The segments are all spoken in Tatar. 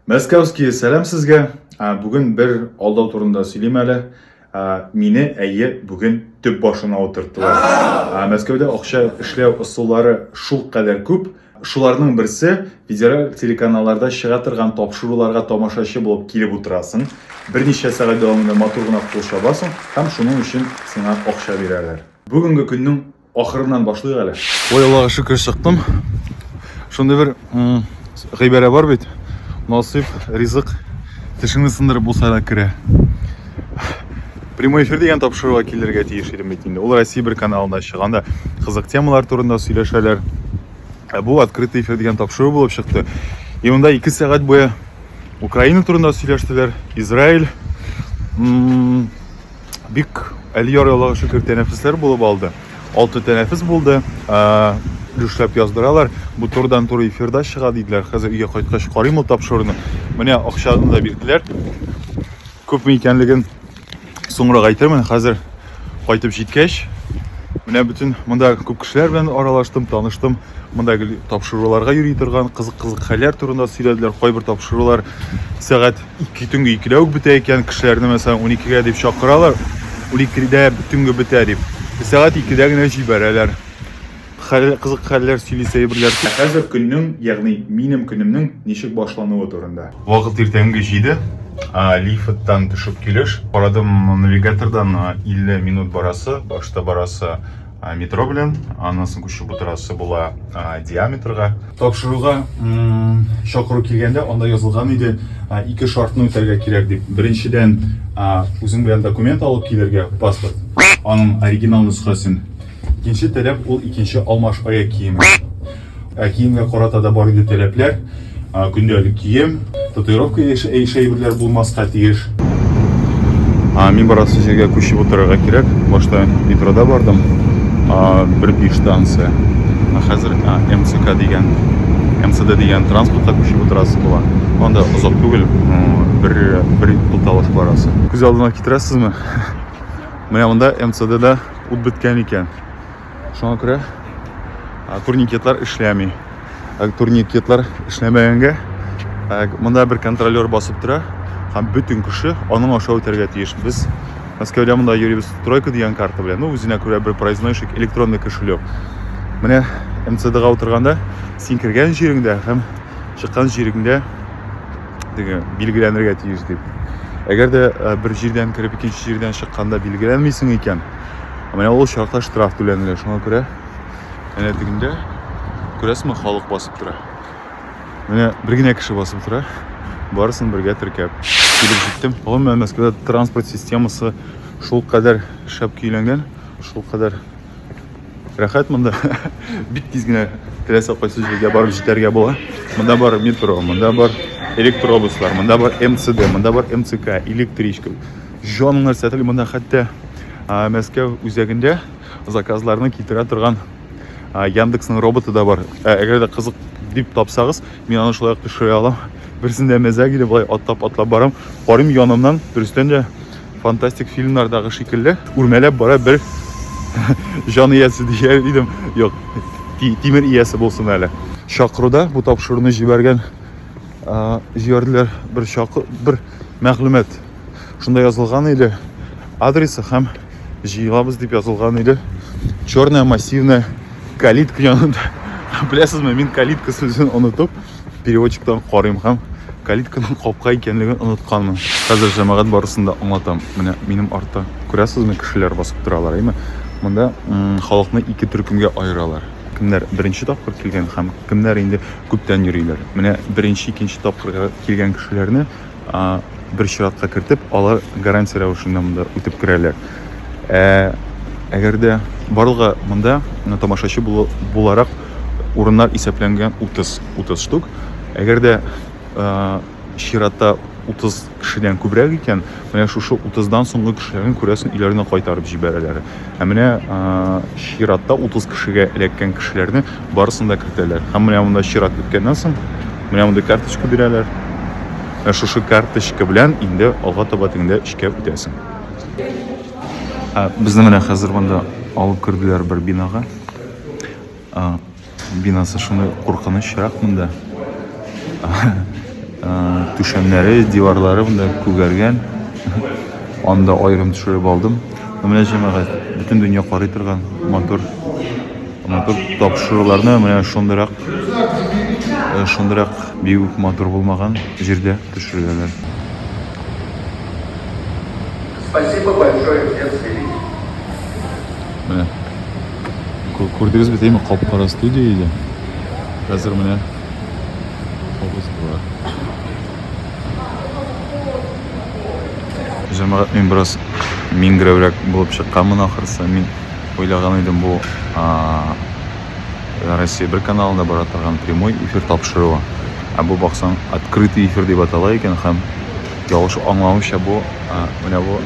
Мәскәүские, сәлам сезгә. Бүген бер алдау турында сөйлим әле. Мине әйе бүген төп башына утырттылар. Мәскәүдә акча эшләү ысуллары шул кадәр күп. Шуларның берсе федераль телеканалларда чыга торган тапшыруларга тамашачы булып килеп утырасың. Берничә сәгать дәвамында матур гына кул чабасың һәм шуның өчен сиңа акча бирәләр. Бүгенге көннең Ахырыннан башлыйк әле. Ой, Аллага шөкер чыктым. Шундый бер гыйбарә бар бит. Насыйп, ризык тешеңне сындырып булса да керә. Прямой эфир дигән тапшыруга килергә тиеш идем бит инде. Ул Россия бер каналында чыганда кызык темалар турында сөйләшәләр. Ә бу открытый эфир дигән тапшыру булып чыкты. И монда 2 сәгать буе Украина турында сөйләштеләр, Израиль, бик әлияр Аллага шөкер тәнәфесләр булып алды. Алты тәнәфес булды. Өлешләп яздыралар. Бу турдан туры эфирда чыга диделәр. Хәзер өйгә кайткач карыйм ул тапшыруны. Менә акчаны да бирделәр. Күпме икәнлеген соңрак әйтермен. Хәзер кайтып җиткәч, менә бөтен монда күп кешеләр белән аралаштым, таныштым. Монда тапшыруларга йөри торган кызык-кызык хәлләр турында сөйләделәр. Кайбер тапшырулар сәгать Ике төнге икедә үк бетә икән, кешеләрне мәсәлән уникегә дип чакыралар, уникедә төнге бетә дип. Ә сәгать икедә генә җибәрәләр. Хәл, кызык хәлләр сөйли сәербирләр. Ә хәзер көннең, ягъни минем көнемнең ничек башлануы турында. Вакыт иртәнге җиде, лифттан төшеп килеш, карадым навигатордан 50 минут барасы, башта барасы. метро белән аннан соң күчеп утырасы була диаметрга тапшыруга чакыру килгәндә анда язылган иде ике шартны үтәргә кирәк дип беренчедән үзең белән документ алып килергә паспорт аның оригинал нөсхәсен икенче таләп ул икенче алмаш аяк киеме Ә киемгә карата да бар инде таләпләр. Көндәлек кием, татуировка яшь әйберләр булмаска тиеш. Мин барасы җиргә күчеп утырырга кирәк. Башта метрода бардым. Бер биш станция. Хәзер МЦК дигән МЦД дигән транспортка күчеп утырасы була. Анда озак түгел, бер бер тукталыш барасы. Күз алдына китерәсезме? Менә монда МЦДда ут беткән икән. Шуңа күрә турникетлар эшләми. Турникетлар эшләмәгәнгә монда бер контролер басып тора һәм бөтен кеше аның аша үтәргә тиеш. Без Мәскәүдә монда йөрибез тройка дигән карта белән, ну үзенә күрә бер проезднойщик, электронный кошелек. Менә МЦДга утырганда син кергән җиреңдә һәм чыккан җиреңдә диге билгеләнергә тиеш дип. Әгәр дә бер җирдән кереп икенче җирдән чыкканда билгеләнмисең икән, Ә менә ул чакта штраф түләнелә, шуңа күрә әнә тегендә күрәсеңме, халык басып тора. Менә бер генә кеше басып тора. Барысын бергә теркәп килеп җиттем. Гомумән Мәскәүдә транспорт системасы шул кадәр шәп көйләнгән, шул кадәр рәхәт монда. Бик тиз генә теләсә кайсы җиргә барып җитәргә була. Монда бар метро, монда бар электробуслар, монда бар МЦД, монда бар МЦК, электричка. Җанын исәтел монда хәтта Мәскәү үзәгендә заказларны китерә торган Яндексның роботы да бар. Әгәр дә кызык дип тапсагыз, мин аны шулай төшерә алам. Берсендә мәзәк иде, болай атлап атлап барам. Карым янымнан дөрестән дә фантастик фильмнардагы шикелле үрмәләп бара бер җан иясе дияр идем. Юк, тимер иясе булсын әле. Чакыруда бу тапшыруны җибәргән җибәрделәр бер чакы бер мәгълүмат шунда язылган или адресы һәм җыелабыз дип язылган или черная массивная калитка янында беләсезме мин калитка сүзен онытып переводчиктан карыйм һәм калитканың капка икәнлеген онытканмын хәзер җәмәгать барысын да аңлатам менә минем артта күрәсезме кешеләр басып торалар әйме монда халыкны ике төркемгә аералар кемнәр беренче тапкыр килгән һәм кемнәр инде күптән йөриләр менә беренче икенче тапкырга килгән кешеләрне бер чиратка кертеп, алар гарантия рәвешендә монда үтеп керәләр. Ә әгәр дә барлыгы монда тамашачы буларак урыннар исәпләнгән 30 30 штук. Әгәр дә чиратта 30 кешедән күбрәк икән, менә шушы 30дан соңгы кешеләрне күрәсен өйләренә кайтарып җибәрәләр. Ә менә чиратта 30 кешегә эләккән кешеләрне барысын да кертәләр. Һәм менә монда чират беткәннән соң, менә монда карточка бирәләр. Ә шушы карточка белән инде алга таба тегендә эшкә үтәсең. Ә безне менә хәзер монда алып керделәр бер бинага. Бинасы шундый куркынычрак монда. Түшәмнәре, диварлары монда күгәргән. Анда аерым төшереп алдым. Менә җәмәгать, бөтен дөнья карый торган мотор мотор тапшыруларны менә шундырак э, шундырак бигүк мотор булмаган җирдә төшерәләр. Спасибо большое, Менә. Күрдегезме, димме, кап-кара студия иде. Хәзер менә автобус бар. Җәмәгать мин бераз миңгерәүрәк булып чыкканмын ахырсы. Мин уйлаган идем бу Россия бер каналында бара торган прямой эфир тапшыруы. Ә бу баксаң открытый эфир дип атала икән һәм ялгыш аңламыйча бу менә бу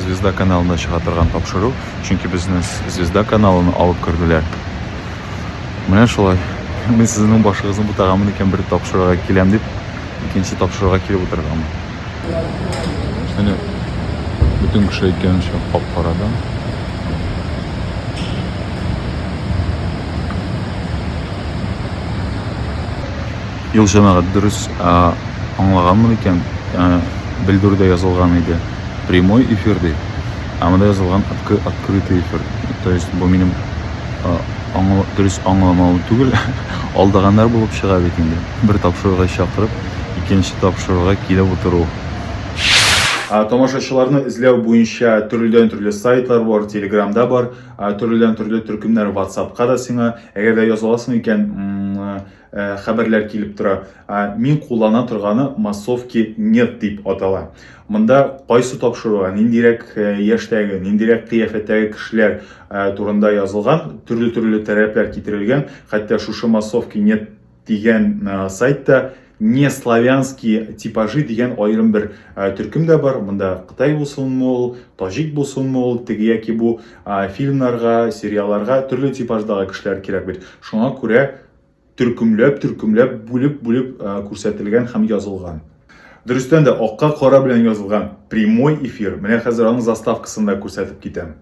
Звезда каналында чыга торган тапшыру, чөнки безне Звезда каналына алып керделәр. Менә шулай. Мин сезнең башыгызны бутаганмын икән бер тапшыруга киләм дип, икенче тапшыруга килеп утырганмын. Менә бөтен кеше әйткәнчә кап-карада. Ел җәмәгать дөрес аңлаганмы микән? Белдүрдә язылган иде прямой эфир ди, ә монда язылган открытый эфир. То есть бу минем аңла, дөрес аңламавым түгел. Алдаганнар булып чыга бит инде. Бер тапшыруга чакырып, икенче тапшыруга килеп утыру. Тамашачыларны эзләү буенча төрледән төрле сайтлар бар, Телеграмда бар, төрледән төрле төркемнәр, WhatsAppка да сиңа. Әгәр дә языласың икән, Э, хәбәрләр килеп тора. Мин куллана торганы массовки нет дип атала. Монда кайсы тапшыруга, ниндирәк э, яшьтәге, ниндирәк кыяфәттәге кешеләр э, турында язылган, төрле-төрле тәрәпләр китерелгән. Хәтта шушы массовки нет дигән сайтта не славянские типажи дигән аерым бер ә, төркем дә бар. Монда Кытай булсынмы ул, таҗик булсынмы ул, теге яки бу ә, фильмнарга, сериалларга төрле типаждагы кешеләр кирәк бит. Шуңа күрә төркемләп, төркемләп, бүлеп-бүлеп күрсәтелгән һәм язылган. Дөрестән дә акка кара белән язылган прямой эфир. Менә хәзер аның заставкасын да күрсәтеп китәм.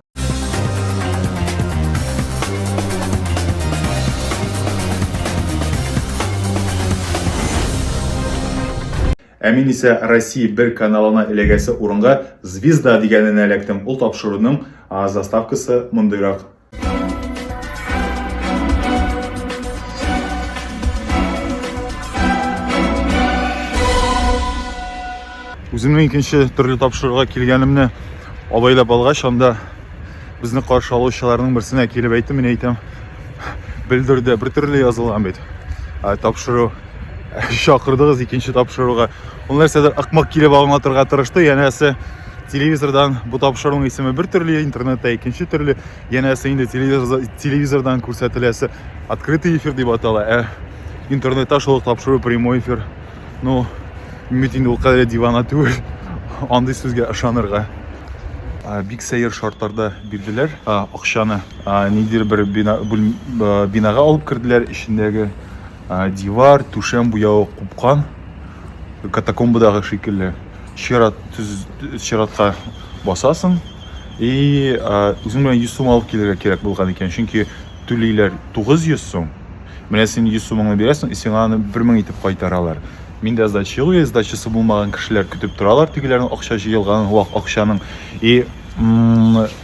Ә мин исә Россия бер каналына эләгәсе урынга звезда дигәненә эләктем. Ул тапшыруның заставкасы мондыйрак. Үземнең икенче төрле тапшыруга килгәнемне абайлап алгач, анда безне каршы алучыларның берсенә килеп әйтте, мин әйтәм, белдерде, бер төрле язылган бит. Ә тапшыру чакырдыгыз икенче тапшыруга. Ул нәрсәдер акмак килеп аңлатырга тырышты, янәсе телевизордан бу тапшыруның исеме бер төрле, интернетта икенче төрле, янәсе инде телевизор, телевизордан күрсәтеләсе открытый эфир дип атала, ә интернетта шул тапшыру прямой эфир. Ну, бит инде ул кадәр дивана түгел, андый сүзгә ышанырга. Бик сәер шартларда бирделәр акчаны. Ниндидер бер бинага алып керделәр, эчендәге Дивар, түшәм буявы купкан. Катакомбадагы шикелле. Чират төз чиратка басасың. И үзең белән 100 сум алып килергә кирәк булган икән, чөнки түлиләр 900 сум. Менә син 100 сумыңны бирәсең, и сиңа аны 1000 итеп кайтаралар. Мин дә сдача юк, сдачасы булмаган кешеләр көтеп торалар, тегеләрнең акча җыелган вак акчаның. И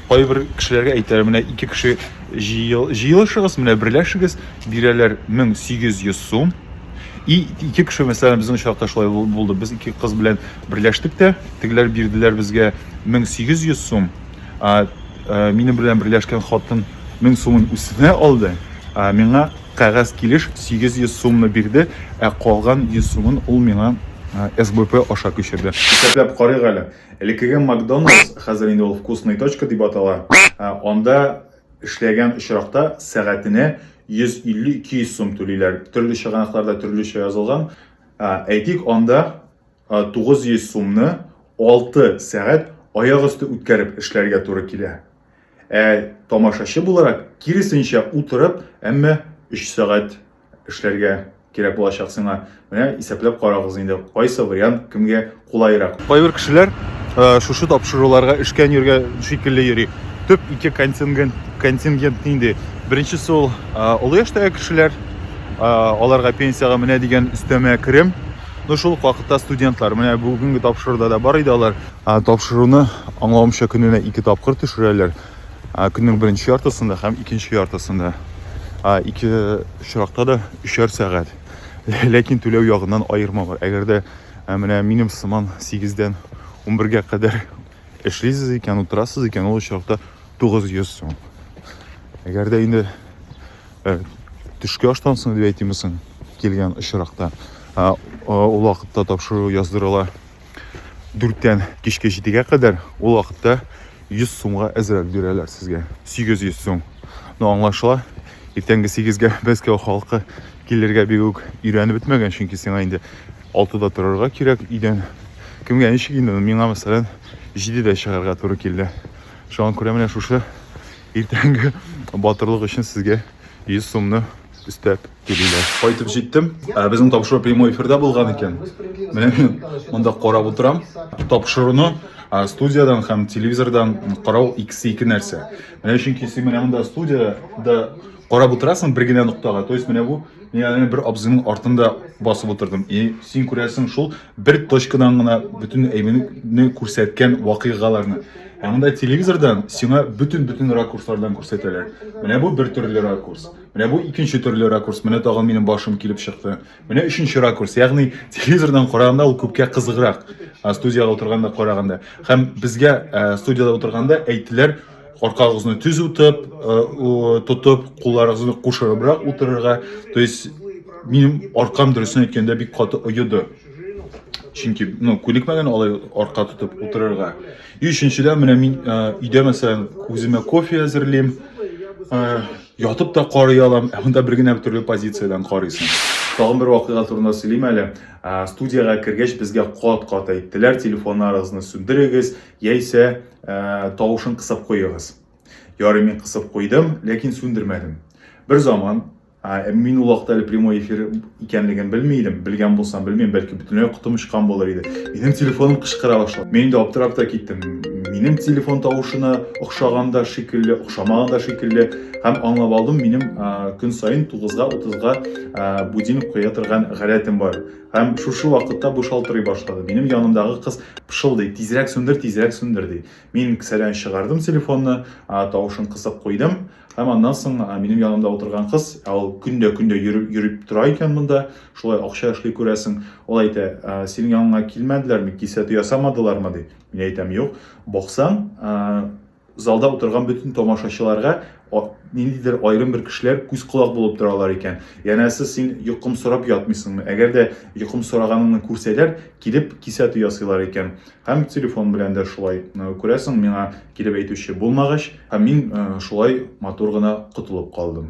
кайбер кешеләргә әйтәләр, менә ике кеше Җыелышыгыз, менә берләшегез, бирәләр 1800 сум. И ике кеше мәсәлән безнең очракта шулай булды. Без ике кыз белән берләштек тә, тегеләр бирделәр безгә 1800 сум. А э, минем белән берләшкән хатын 1000 сумын үсенә алды. А миңа кәгазь килеш 800 сумны бирде, ә калган 100 сумын ул миңа э, СБП аша күчерде. Исәпләп карыйк әле. Элеккеге Макдоналдс, хәзер инде ул Вкусный точка дип атала, ә, анда эшләгән очракта сәгатенә 150-200 сум түлиләр. Төрле чыганакларда төрлечә язылган. Ә, Әйтик, анда а, 900 сумны 6 сәгать аяк өсте үткәреп эшләргә туры килә. Ә тамашачы буларак, киресенчә, утырып, әмма 3 сәгать эшләргә кирәк булачак сиңа. Менә исәпләп карагыз инде, кайсы вариант кемгә кулайрак. Кайбер кешеләр э, шушы тапшыруларга эшкә йөргә шикелле йөри. Төп ике контингент контингент нинди? Беренчесе ул э, олы яшьтәге кешеләр, э, аларга пенсиягә менә дигән өстәмә керем. Ну шул ук вакытта студентлар. Менә бүгенге тапшыруда да бар иде алар. Тапшыруны аңлавымча көненә ике тапкыр төшерәләр. Көннең беренче яртысында һәм икенче яртысында. Ике очракта да өчәр сәгать. Ләкин түләү ягыннан аерма бар. Әгәр дә менә минем сыман 8-дән 11-гә кадәр эшлисез икән, утырасыз икән, ул очракта 900 сум. Әгәр дә инде төшке аштан соң дип әйтимме соң килгән очракта, ул вакытта тапшыру яздырыла дүрттән кичке җидегә кадәр ул вакытта 100 сумга әзрәк бирәләр сезгә 800 сум но аңлашыла иртәнге 8-гә мәскәү халкы килергә бик үк өйрәнеп бетмәгән чөнки сиңа инде 6-да торырга кирәк өйдән кемгә ничек инде миңа мәсәлән 7-дә чыгарга туры килде шуңа күрә менә шушы иртәнге батырлык өчен сезгә 100 сумны өстәп Килүләр. Кайтып җиттем. Ә безнең тапшыру прямой эфирда булган икән. Менә мин монда карап утырам. Тапшыруны студиядән һәм телевизордан карау икесе ике нәрсә. Менә чөнки син менә монда студиядә карап утырасың бер генә ноктага. То есть менә бу мин бер абзыйның артында басып утырдым. И син күрәсең шул бер точкадан гына бөтен әйберне күрсәткән вакыйгаларны. Ә монда телевизордан сиңа бөтен-бөтен ракурслардан күрсәтәләр. Менә бу бер төрле ракурс. Менә бу икенче төрле ракурс. Менә тагын минем башым килеп чыкты. Менә өченче ракурс. Ягъни телевизордан караганда ул күпкә кызыграк. Студиядә утырганда караганда. Һәм безгә студиядә утырганда әйттеләр, аркагызны төз утып, тотып, кулларыгызны кушырыбрак утырырга. То есть минем аркам дөресен әйткәндә бик каты оеды. Чөнки, ну, күнекмәгән алай арка тотып утырырга. И өченчедән менә мин өйдә мәсәлән үземә кофе әзерлим. Ятып та карый алам, ә монда бер генә бер төрле позициядән карыйсың. Тагын бер вакыйга турында сөйлим әле. Ә, студиягә кергәч безгә кат-кат әйттеләр, телефоннарыгызны сүндерегез, яисә ә, тавышын кысып куегыз. Ярый мин кысып куйдым, ләкин сүндермәдем. Бер заман, ә, мин ул вакытта әле прямой эфир икәнлеген белми идем. Белгән булсам, белмим, бәлки бөтенләй котым очкан булыр иде. Минем телефоным кычкыра башлады. Мин инде аптырап та киттем. Минем телефон тавышына охшаганда шикелле, охшамаганда шикелле һәм аңлап алдым, минем көн саен 9-га 30-га будильник куя торган гадәтем бар. Һәм шушы вакытта бу шалтырый башлады. Минем янымдагы кыз пышылдый, тизрәк сүндер, тизрәк сүндер ди. Мин кесәдән чыгардым телефонны, тавышын кысып куйдым. Һәм аннан соң минем янымда утырган кыз, ә ул көндә-көндә йөреп йөреп тора икән монда, шулай акча эшли күрәсең. Ул әйтә, синең яныңа килмәделәрме, кисәтү ясамадылармы, ди. Мин әйтәм, юк. Баксаң, залда утырган бөтен тамашачыларга ниндидер аерым бер кешеләр күз-колак булып торалар икән. Янәсе син йокым сорап ятмыйсыңмы? Әгәр дә йокым сораганыңны күрсәләр, килеп кисәтү ясыйлар икән. Һәм телефон белән дә шулай. Күрәсең, миңа Килеп әйтүче булмагач, һәм мин шулай матур гына котылып калдым.